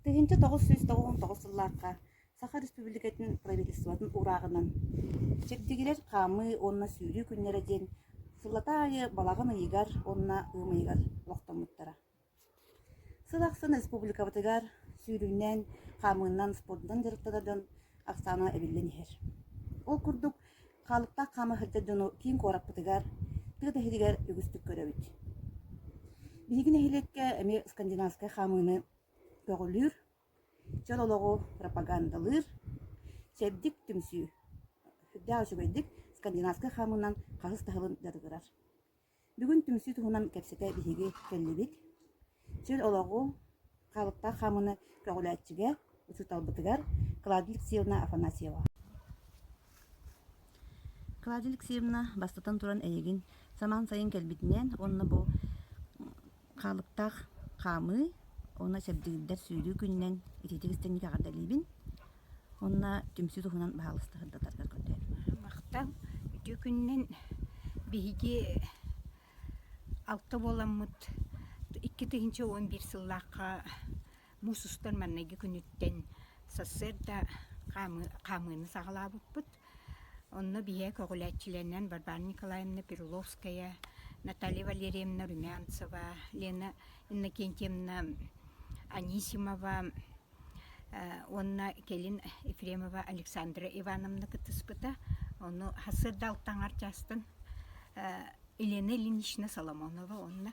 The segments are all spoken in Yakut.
Тыһыынча тоҕус сүүс тоҕус тоҕус сыллаахха Саха Республикатын правительствотын урааҕынан Чэбдигирэр хаамыы уонна сүүрүү күннэрэ диэн сыллата аайы балаҕан ыйыгар уонна ыам ыйыгар олохтоммуттара. Сыл ахсын республикабытыгар сүүрүүнэн, хаамыынан, спордунан дьарыктанардан ахсаана эбиллэн иһэр. Ол курдук, хаалыктаах хаама сылдьар дьону киин куораппытыгар, тыа тэһитигэр үгүстүк көрөбүт. Биһиги нэһилиэккэ эмиэ скандинавскай хаамыыны Көҕүлүүр, дьон олоҕу пропагандалыыр, чэбдик түмсүү, сүрдээх үчүгэйдик скандинавскай хаамыынан хаһыс таһылын дьатыгырар. Бүгүн түмсүү туһунан кэпсэтэ биһиги кэллибит. Чөл олоҕу хаалыктаах хаамыыны көҕүлээччигэ, учууталбытыгар Клавдия Алексеевна Афанасьева. Клавдия Алексеевна, бастатан туран, эйигин самаан сайын кэлбитинээн уонна бу хаалыктаах хаамыы уонна чэбдигирдэр сүүрүү күнүнэн ититик истиҥник эҕэрдэлиибин уонна түмсүү туһунан баһаалыста сырдатарга көрдөһөбүн. Махтал үтүө күнүнэн биһиги алта буоламмыт икки тыһыынча уон биир сыллаахха Муус устар маҥнайгы күнүттэн сарсыарда хаамыы хаамыыны саҕалаабыппыт. Онно биһиэхэ көҕүлээччилэринэн Варвара Николаевна Перуловская, Наталья Валерьевна Румянцева, Лена Иннокентьевна Анисимова уонна кэлин Ефремова Александра Ивановна кыттыспыта. Ону сырда алта аҥар чаастан Елена Ильинична Соломонова уонна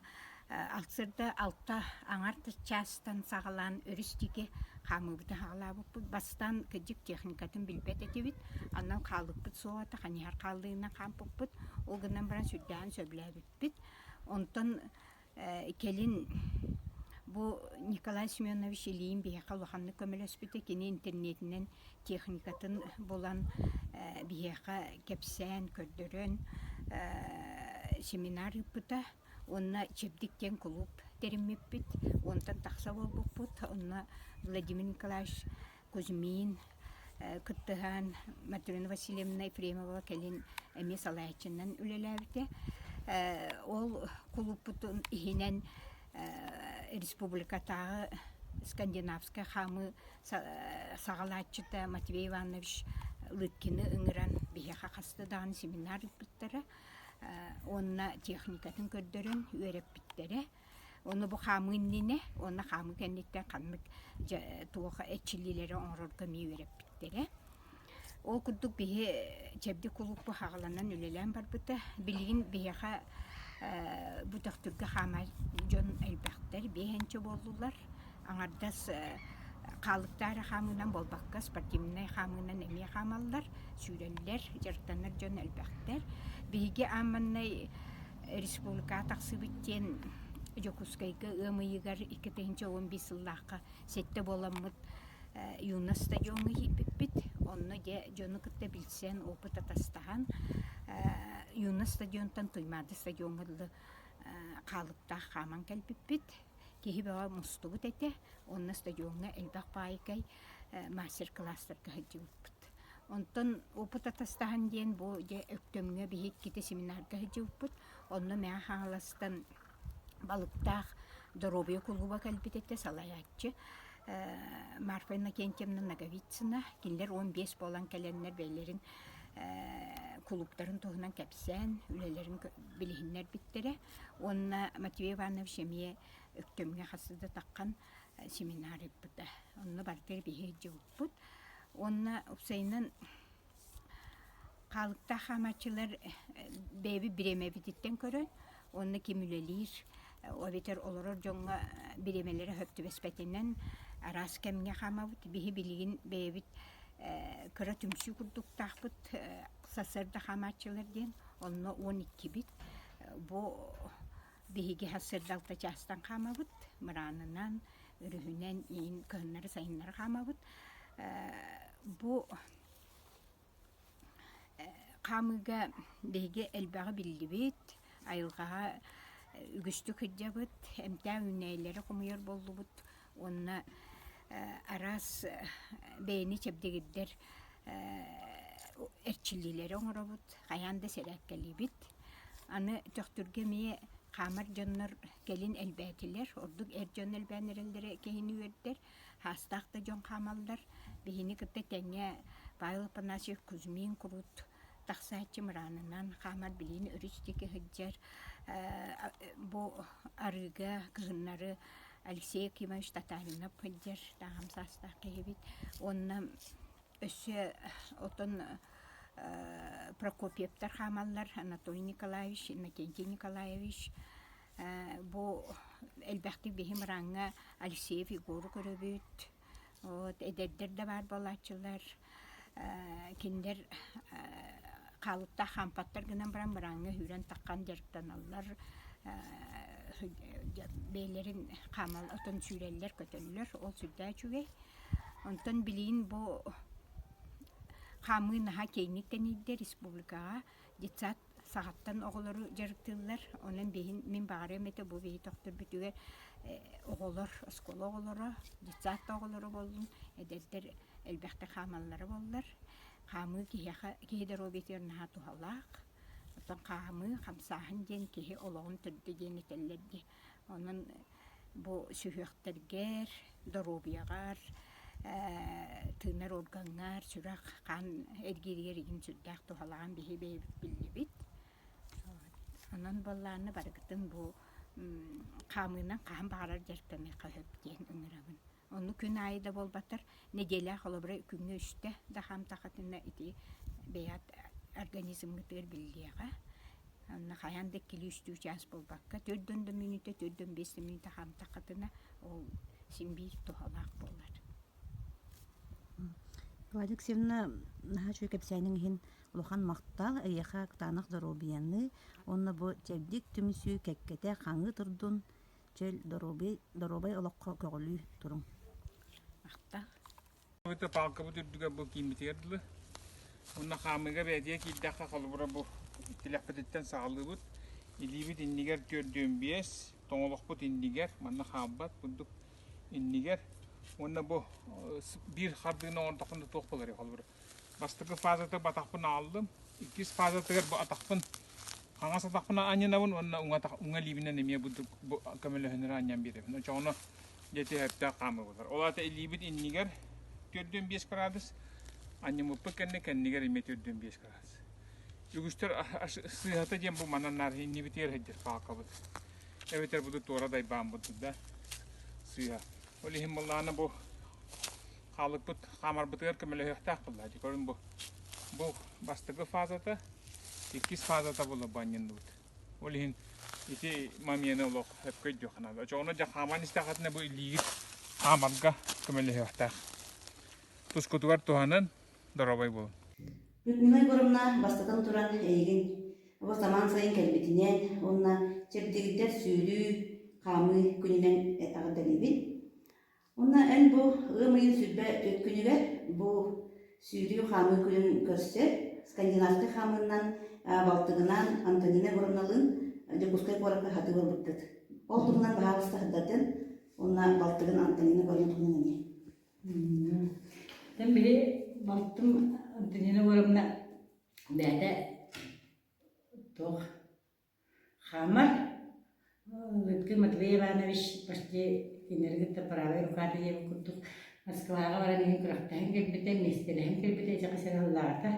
алтсырда алта аҥарт чаастан саҕалаан өрүстүкэ хаамыыбытын хаалаабыппыт бастаан кырдьык техникатын билбэт этибит анан хаалыппыт суоҕата ханьыһар хааллыынан хаампыппыт ол гынан баран сүрдээҕин сөбүлээбиппит онтон Кэлин бу Николай Семенович Ильин биһиэхэ улаханнык көмөлөспүтэ. Кини интернетинэн техникатын булан биһиэхэ кэпсээн, көрдөрөн семинар ыыппыта. Уонна Чэбдик диэн кулууп тэриммиппит. Уонтан тахса буолбуппут. Онно Владимир Николаевич Кузьмин кыттыһаан Матрена Васильевна Ефремова кэлин эмиэ салайааччынан үлэлээбитэ. Ол кулууппутун иһинэн республикатааҕы скандинавскай хаамыы саҕалааччыта Матвей Иванович Лыткины ыҥыран биһиэхэ хаста даҕаны семинар ыыппыттара уонна техникатын көрдөрөн үөрэппиттэрэ. Ону бу хаамыы иннинэ уонна хаамыы кэнниттэн ханнык дьэ туох эччилиилэри оҥорорго эмиэ үөрэппиттэрэ. Ол курдук биһи чэбди кулууп быһаҕаланан үлэлээн барбыта. Билигин биһиэхэ бу төхтүргэ хаамар дьон элбэхтэр, биэхэнчэ буоллулар. аҥардас хаалыктаах эрэ хаамыынан буолбакка спортивнай хаамыынан эмиэ хаамаллар сүүрэллэр дьарыктанар дьон элбэхтэр биһиги аамманнай республикаҕа тахсыбыт диэн Дьокуускайга ыам ыйыгар икки тыһыынча уон биис сыллаахха сэттэ буоламмыт юность стадиоҥҥа киирбиппит онно дьэ дьону кытта билсэн опыт атастаһан юность стадионтан туймаада стадиоҥҥа дылы хаалыктаах хааман кэлбиппит Киһи бөҕө мустубут этэ, онно стадиоҥҥа элбэх паайыкай мастер-класстарга сылдьыбыппыт. Онтон опыт атастаһан диэн бу дьэ Өктөмҥө биһиккитэ семинарга сылдьыбыппыт. Онно Мэҥэ Хаҥаластан балыктаах доруобуйа кулууба кэлбит этэ, салайааччы Марфа Иннокентьевна Ноговицына. Кинилэр уон биэс буолан кэлэннэр бэйэлэрин кулууптарын туһунан кэпсээн, үлэлэрин билиһиннэрбиттэрэ. Уонна Матвей Иванович эмиэ Өктөмҥө хас да таххан семинарийпыта. Онно барыта биһирдьибиппут. Уонна упсайынан хаалыктаах хаамааччылар бэйэбит бириэмэбититтэн көрөн уонна ким үлэлиир эбэтэр олорор дьоҥҥо бириэмэлэрэ сөп түбэспэтинэн араас кэмҥэ хаамабыт. Биһи билигин бэйэбит кыра түмсүү курдуктаахпыт сарсыарда хаамааччылар диэн онно он иккибит Бу биһиги хас сырдалта чаастан хаамабыт, мыраанынан, өрүһүнэн иин кыһыннары сайыннары хаамабыт. Бу хаамыыга биһиги элбэҕи биллибит, айылҕаҕа үгүстүк сылдьабыт, эмтээн үүнээйилэри хомуйар буоллубут. уонна араас бэйэни чэбдигирдэр эрчиллиилэри оҥоробут, хайаан да сэрээккэлиибит. Аны төхтүргэ эмиэ хаамар дьоннор кэлин элбээтилэр, ордук эр дьон элбээн эрэллэрэ киһини үөрдэр, саастаах да дьон хаамаллар. Биһини кытта тэҥҥэ Павел Панасьев Кузьмин курут тахсааччы мыраанынан хаамар билиини өрүс диэки сылдьар бу арыыга кыһыннары Алексей Акимович Татаринов сылдьар таҥам саастаах киһи эбит уонна өссө отон Прокопьевтар хаамаллар Анатолий Николаевич Иннокентий Николаевич бу элбэхтик биһи мырааҥҥа Алексеев Егору көрөбүт Вот эдэрдэр да баар буолааччылар кинилэр хаалыктаах хампаттар гынан баран бырааҥҥа үүрэн таххан дьарыктаналлар бэйэлэрин хаамал отон сүүрэллэр көтөллөр ол сүрдээх үчүгэй онтон билигин бу хаамыы наһаа киэҥник тэнийдэ республикаҕа детсад саҕаттан оҕолору дьарыктыыллар. Онон биһин, мин баҕарыам этэ бу биһи тохторбүтүгэр оҕолор, оскуола оҕолоро, детсадка оҕолоро боллун, эдэрдэр элбэхтэ хаамаллара боллар. Хаамыы киһиэхэ, киһи доруобуйатыгар наһаа туһалаах. Оттон хаамыы, хамсааһын диэн киһи олоҕун төрдө диэн этэллэр дии. Онон Бу сүһүөхтэргэр, доруобуйаҕар, ээ тыынар органҥар сүрэх хаан эргииригэр игин сүрдээх туһалаан биһи бэйэбит биллибит. Онон буоллааны барыгытын бу хаамыынан хаһан баҕарар дьарыктаныахха сөп диэн ыҥырабын Онну күн аайы да буолбаттар, нэдиэлэ холобура күҥҥэ үстэ да хам тахатына ити бэйэт организмгытыгар биллиэҕэ. Онно хайаан да икки-үстүү чаас буолбакка, төрдөн да мүнүүтэ, төрдөн биэс да мүнүүтэ хам тахатына ол син биир туһалаах буолар. Владик Севна наһаа үчүгэй кэпсээниҥ иһин улахан махтал эйиэхэ кытаанах доруобуйанныы уонна бу чэбдик түмсүү кэккэтэ хаҥыы турдун чөл доруобуй, доруобай олоххо көҕүлүү туруҥ. Ахта. Ita палка bu türdüge bu kiimmitигэр дылы. Онна хаамыыга бээтиэ киирдэххэ холобура бу тилэхпититтэн саҕалыыбыт. Илиибит иннигэр төрдүөн биэс, тоҥолохпут иннигэр, манна хаалбат курдук иннигэр. Уонна бу биир хардыыны оҥордоххунда туох болар холобура. бастакы фазата батахпын ааллым иккис фазатыгар бу атахпын хаҥас атахпын анньынабын уонна уҥа атах уҥа лиибинэн эмиэ буддук көмөлөһөнөрө анньан биэрэбин очоҕуна дьэти өрдөөх хаамыбытар ол аата илиибит иннигэр төрдүөн биэс градус анньыммыппыт кэннэ кэннигэр эмиэ төрдүөн биэс градус үгүстэр сыыһата диэн бу манан наар иннибитигэр сылдьар паакабыт эбэтэр буду туора дайбаан буддук да сыыһа ол иһин буоллаҕына бу хаалыкпыт хаамарбытыгар көмөлөһүөхтээх буолла дии көрүн бу бу бастакы фазата иккис фазата була банньынныбыт ол иһин ити момена олох өпкө өйдүөх наада очоҕуна дьэ хааман истэхэтинэ бу илиигит хаамарга көмөлөһүөхтээх тускутугар туһанан доробой буолун Людмила Егоровна бастатан туран эйигин бу самаан сайын кэлбитинэн уонна чэбдигирдэр сүүрүү хаамыы күнүнэн этаҕы дэлибин Уонна эн бу ыам ыйын сүүрбэ түөрт күнүгэр бу сүүрүү хаамыы күнүн көрсөр скандинавскай хаамыынан э, балтыгынан Антонина Воронолын Дьокуускай куоракка сатыы буолбуттат. Ол туһунан баһаалыста сырдатын уонна балтыгын Антонина Воронин туһунан эни. Тэн били балтым Антонина Воровна бээтэ туох Хаамар Лютгин Матвей Иванович почти кинилэри кытта правай рукаата диэбит курдук Москваҕа баран иһин күрэхтэһэн кэлбитэ, миэстэлэһэн кэлбитэ дьэ хас эрэ сыллаата.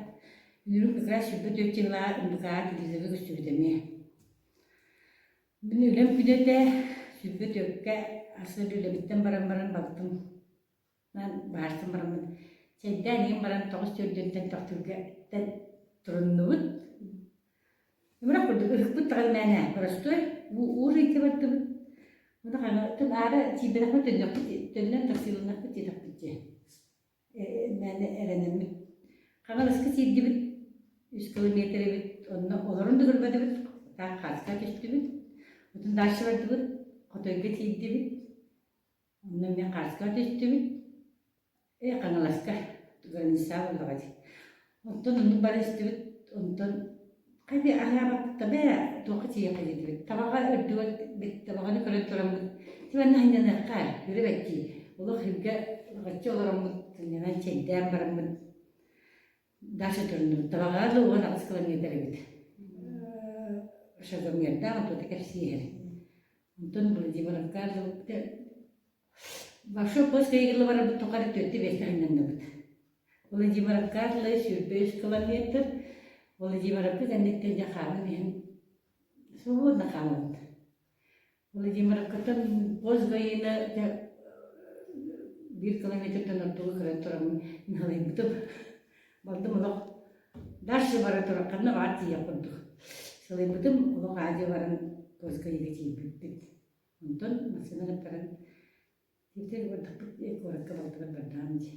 Үүрүк как раз сүүрбэ түөрт дьыллааҕы УМБК-ҕа телевизорга көстүбүт эмиэ. Мин үлэм күдэтэ, сүүрбэ түөркэ, ас сыл үлэбиттэн баран баран бардым. Наан баарсан бараммыт чэйдээн иһэн баран тоҕус дьөрдөнтөн тохтуурга туруннубут. Имрэх курдук ыһыкпыт таҕай мээнэ боростуой уурыйга бардыбыт. Муна хана тын аара тииберахпыт төннөхпүт төннөн тахсыыланнахпыт диэтэхпит дии. Мээнэ эрэнэммит. Хаҥаласка тиийдибит. Үс километр эбит. Онно олорон да көрбөтүбүт. Так хааска түстүбүт. Отун дальше бардыбыт. Хотойго тиийдибит. Онно мин Хаарыска көтүстүбүт, э Хаҥаласка, Горнисаа буоллаҕа дии. Оттон оннук бара истибит, онтон хайдах аһаабаттар бээ, туохха тиийэ кэлиитибит. Табаҕа үрдүгэр табаҕаны көрөн тураммыт. Ити манна сынньаныахха, көрүбэт дии. Олох илгэ оччо олороммут, сынньанан чэйдээн бараммыт. Даша көрүнүм, табаҕаҕа да уон аҕыс километр эбит. Шезлонгердаах оттута кэпсииһэр. Онтон Владимировка дылбыта Большой Боско Игорла барарбыт тухары төрдө биэскэ айнанныбыт. Владимировка атлы сүүрбэ үс километр. Владимировка кэнниттэн дьэ хаалан иһэн свободно хаалабыт. Владимиркаттан бос военна дьэ биир километртан ортоҕу көрөн тураммын ныһылыйбытым. Бардым олох дальше бара турар ханна баар тиийэх курдук. Сылыйбытым олох аадьа баран Кольскайга тиийбиппит. Онтон массыына гыттаран тиитэр бардахпыт куоракка балтылар бардаам дии.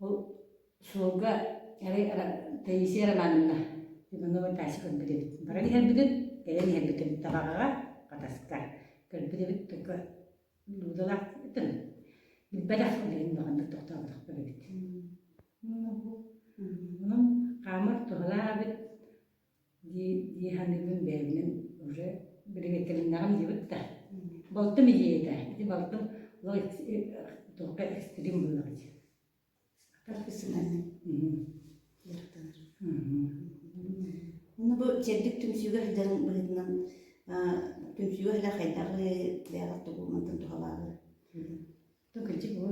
Ол суолга арай Таисия Романовна Иванова тача көрбүт эбит. Баран иһэрбитин, кэлэн иһэрбитим табаҕаҕа, хатаска. Көрбүт эбит, только дуудалаах ытын. Билбэтэх билигин баҕаннык тохтооботохпор эбит. Онон хаамар туһалаах эбит. дии дии саныыбын бэйэбинэн уже биригэдтэриннээҕи билибит да балтым идиэйэ этэ ити балтым ло туохха экстрим буолла дии Ону бу сэрдик түмсүүгэ сылдьан быһыытынан түмсүүгэ сылдьа хайдах бэйэҕэр тугунан туһалааҕы Тон кырдьык бу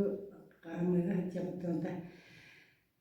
хаарымыыга сылдьабыт да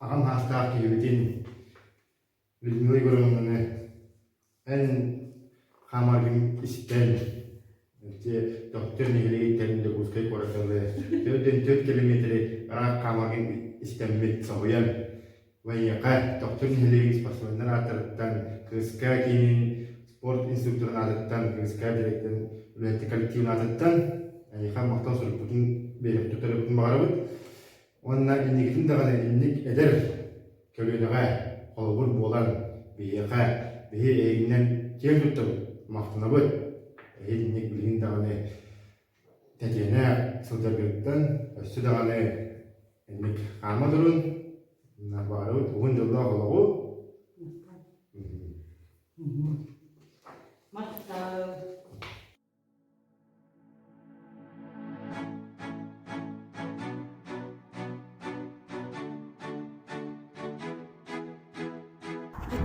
аҕам саастаах киһибитин Людмила Егоровнаны эн хаамаргын истэн ити Тохтор нэһилиэгэ иттэрин Дьокуускай куораттарга төрт төрт километри ыраах хаамаргын истэммит соһуйан военка Тохтор нэһилиэгин спортсменнар ааттарыттан кыыска киинин спорт инструкторун аатыттан кыыска дириэктэрин үлэһиттик коллективын аатыттан эйиэхэ махтал суруйбутун бэйэбит туттарыыбытын баҕарабыт Уонна инникитин даҕаны инник эдэр көлүөнэҕэ холобур буолан, биһиэхэ, биһи эйигинэн киэн туттабыт, махтанабыт. Иһин инник билигин даҕаны тэтиэнэ сылдьаргыттан өссө даҕаны инник хаама турун, баҕарабыт уһун дьоллоох олоҕу. Махтаал.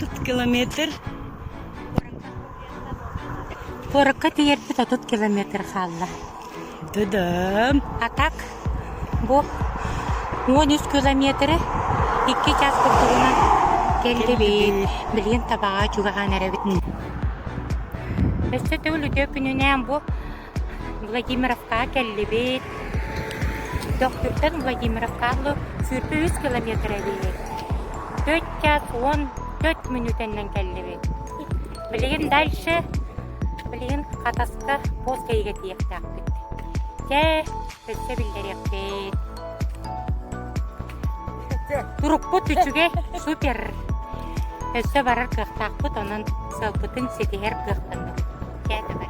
отут километр куоракка тиийэрбит отут километр хаалла. Дыдым. А так Бу уон үс километры икки чаас курдугунан кэллибит, билигин табаҕа чугаһаан эрэбит. Өссө төгүл үтүө күнүнээн бу Владимировкаҕа кэллибит. Төхтүртэн Владимировка аһылы сүүрбэ үс километр эбит. Төрт чаас уон төрт мүнүүтэннэн кэллибит. Билигин дальше, билигин Хатаска босс кэйигэтиэхтээхпит. Чэ, өссө биллэриэхпит. Турукпут үчүгэй, супер. Өссө барар кыахтаахпыт, онон сылбытын ситиһэр кыахтанабыт. Чэ, давай.